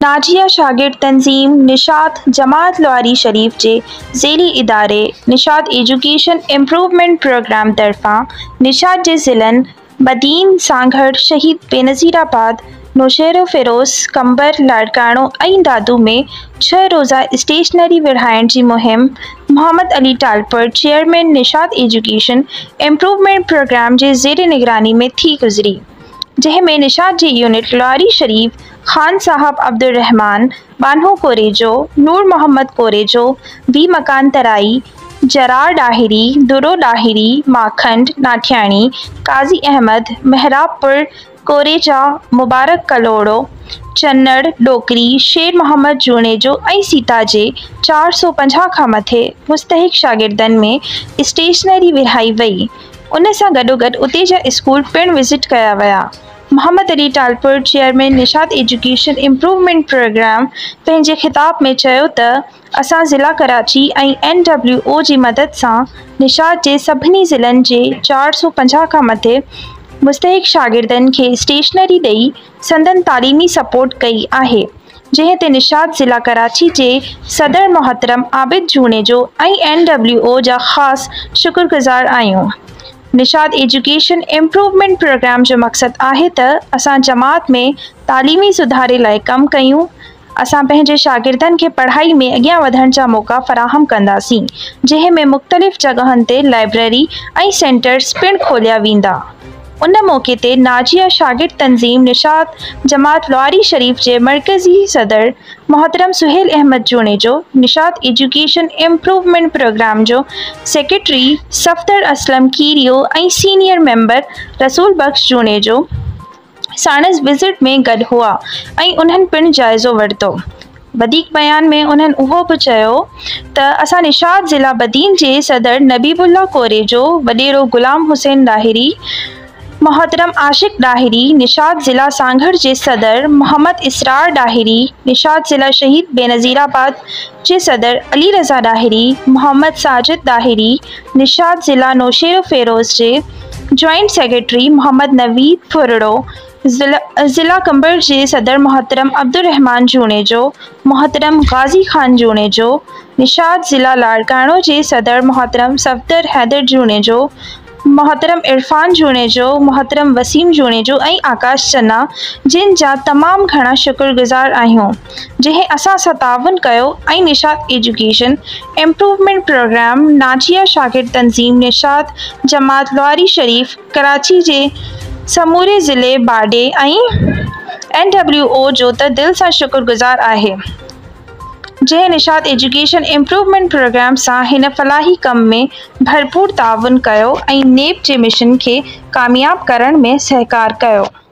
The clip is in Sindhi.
ناجيه شاگرد تنظيم نشاط جماعت لواري شريف جي ذيلي اداري نشاط ايجوڪيشن امپروومينٽ پروگرام طرفان نشاط جي ضلعن بدين، سانگهڙ، شهيد بينظير آباد، نوشهروفيروز، قمبر، لاڙڪاڻو ۽ دادو ۾ ڇهه روزه اسٽيشنري وڙهائڻ جي مهم Muhammad Ali Talpur chairman Nishat education improvement programme جي زير نگراني ۾ ٿي گذري جنهن ۾ نشاط جي يونٽ لواري شريف خان صاحب عبدالرحمان ٻانهو ڪوريجو، نور محمد ڪوريجو، بي مڪان ترائي، جرار ڏاهري، درو ڏاهري، ماکنڊ ناٺياڻي، قاضي احمد، محراب پور، ڪوريجا، مبارڪ ڪلهوڙو، چنڙ، ڏوڪري، شير محمد جوڻيجو ۽ سيتا جي چار سؤ پنجاهه کان مٿي مستحق شاگردن ۾ اسٽيشنري ورهائي وئي. ان سان گڏوگڏ اتي جا اسڪول پڻ وزٽ ڪيا ويا. Muhammad Ali Talpur chairman Nishat education improvement programme پنهنجي خطاب ۾ چيو ته اسان ضلع ڪراچي ۽ اين ڊبليو او جي مدد سان نشاط جي سڀني ضلعن جي چار سؤ پنجاهه کان مٿي مستحق شاگردن کي اسٽيشنري ڏئي سندن تعليمي سپورٽ ڪئي آهي جنهن تي نشاط ضلع ڪراچي جي صدر محترم Abid Junejo ۽ N W O جا خاص شڪرگذار آهيون. نشاد ايجوڪيشن امپروومينٽ پروگرام جو مقصد آهي ته اسان جماعت ۾ تعليمي سڌاري لاء ڪم ڪيون، اسان پنهنجي شاگردن کي پڙهائي ۾ اڳيان وڌڻ جا موقعا فراهم ڪنداسين، جنهن ۾ مختلف جڳهن تي لائبريري ۽ سينٽرز پڻ کوليا ويندا. ان موقعي تي ناجيا شاگرد تنظيم نشاد جماعت لواري شريف جي مرڪزي صدر محترم Sohail Ahmed Junejo Nishat education improvement programme جو secretary Safdar Aslam Khero ۽ senior member Rasool Bakhsh Junejo ساڻس وزٽ ۾ گڏ هئا ۽ انهن پڻ جائزو ورتو. وڌيڪ بيان ۾ انهن اهو به چيو ته اسان نشاط ضلع بدين جي صدر نبيب الله ڪوريجو، وڏيرو غلام حسين لاهري، محترم عاشق ڏاهري، نشاط ضلع سانگهڙ جي صدر محمد اسرار ڏاهري، نشاط ضلع شهيد بينظيرآباد جي صدر علي رضا ڏاهري، محمد ساجد ڏاهري، نشاط ضلع نوشهروفيروز جي جوائنٽ سيڪريٽري محمد نويد ڦرڙو، ضلع قمبر جي صدر محترم عبدالرحمان جوڻيجو، محترم غازي خان جوڻيجو، نشاط ضلع لاڙڪاڻو جي صدر محترم صفدر حيدر جوڻيجو، محترم عرفان جوڻيجو، محترم وسيم جوڻيجو ۽ آڪاش چنا جن جا تمام گهڻا شڪر گذار آهيون جنهن اسان سان تعاون ڪيو ۽ نشاط ايجوڪيشن امپروومينٽ پروگرام ناجيه شاگرد تنظيم نشاط جماعت لواري شريف ڪراچي جي سموري ضلعي باڊي ۽ اين ڊبليو او جو ته دل سان شڪر گذار آهي جنهن نشاط ايجوڪيشن امپروومينٽ پروگرام سان هن فلاحي ڪم ۾ ڀرپور تعاون ڪيو ۽ نيب جي مشن کي ڪامياب ڪرڻ ۾ سهڪار ڪيو.